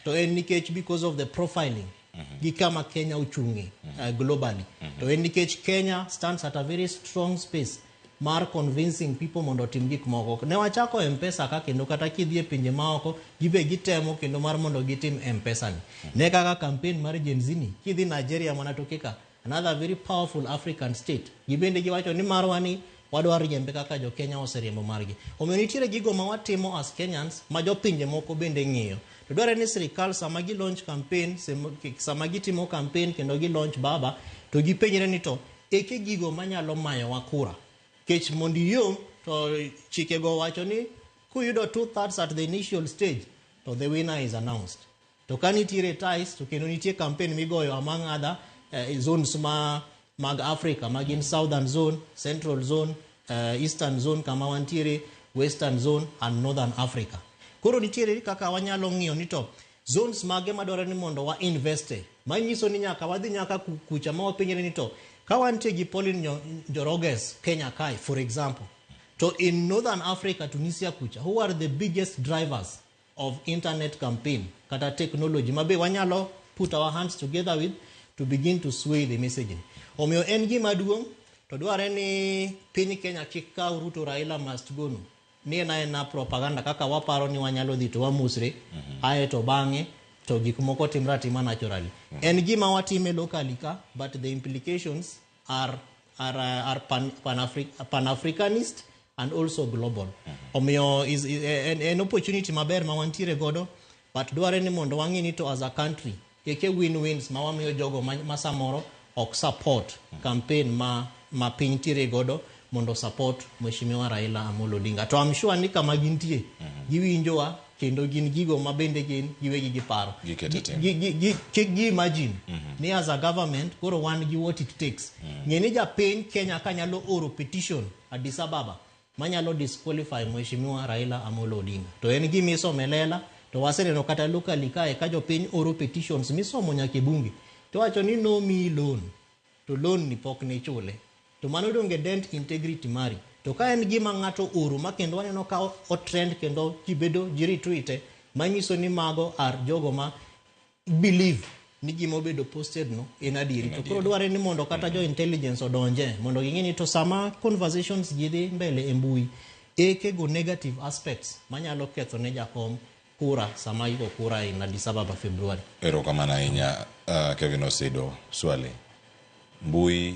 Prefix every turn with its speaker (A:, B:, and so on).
A: to en nikech because of the profiling gi kama Kenya ochung'e uh, globally to en nikech Kenya stands at a very strong space mar convincing people mondo otim gik moko ne wachako mpesa ka kendo kata kidhi e pinje maoko gibe gitemo kendo mar mondo gitim mpesa ni ne kaka campaign mar Gen Z ni kidhi Nigeria mana toke ka Another very powerful African state. Gibende giwacho ni marwa ni wadwa riembe kaka jo Kenya oseriembo margi. Omiyo nitiere gigo ma watimo as Kenyans ma jo pinje moko bende ng'iyo. To dwarore ni sirikal sama gi launch campaign, sama gitimo campaign kendo gi launch baba to gipenjre ni to eke gigo manyalo mayowa kura. Kech mondo iyom to chikego wacho ni kuyudo two thirds at the initial stage to the winner is announced. To ka nitiere ties to kendo nitie campaign migoyo among other eh, zones ma mag Africa ma gin Southern Zone, Central Zone, eh, Eastern Zone kama wantiere, Western Zone and Northern Africa. Koro nitiere kaka wanyalo ng'iyo ni to zones mage madwaro ni mondo wa invest e. Manyiso ni nyaka wadhi nyaka ku- kucha ma wapenjre ni to ka wantie gi Pauline Nyo- Njoroges Kenya Kai for example to in Northern Africa Tunisia kucha who are the biggest drivers of internet campaign kata technology ma be wanyalo put our hands together with to begin to sway the messaging. Omiyo en gima duong' to dwarre ni piny Kenya kik kaw Ruto Raila must go no. Ni en aena propaganda kaka waparo ni wanyalo dhi to wamusre ae to bang'e to gik moko timre atima naturally. En gima watime locally ka but the implications are, are, uh, are pan, pan, Afri pan Africanist and also global. Omiyo is, is an, an opportunity maber ma wantiere godo but dwarore ni mondo wang'e ni to as a country keke win-wins ma wamiyo jogo ma, ma samoro ok support campaign ma, ma piny tiere godo mondo support Mheshimiwa Raila Amolo Odinga. To I'm sure ni kama gintie, mm -hmm. giwinjowa kendo gin gigo ma bende gin giwegi giparo. Kik gi imagine mm -hmm. ni as a government koro wan gi what it takes. Mm -hmm. Ng'e ni japiny Kenya ka nyalo oro petition Addis Ababa manyalo disqualify Mheshimiwa Raila Amolo Odinga. To en gima isomelela to waseneno kata locally kae ka jopiny oro petitions misomo nyaka e bunge to wacho ni no me loan to loan ni pok ne ichule to mano donge dent integrity mari to ka en gima ng'ato oro ma kendo waneno ka o trend kendo ji bedo ji retweete manyiso ni mago are jogo ma believe ni gima obedo posted no en adieri to koro dwarore ni mondo kata jo intelligence odonje mondo ging'e ni to sama conversations ji dhi mbele e mbui ekego negative aspects manyalo ketho ne jakom kura sama iko kura in Addis Ababa Februari.
B: Erokamano ahinya uh, Kevin Osido. Swali, mbui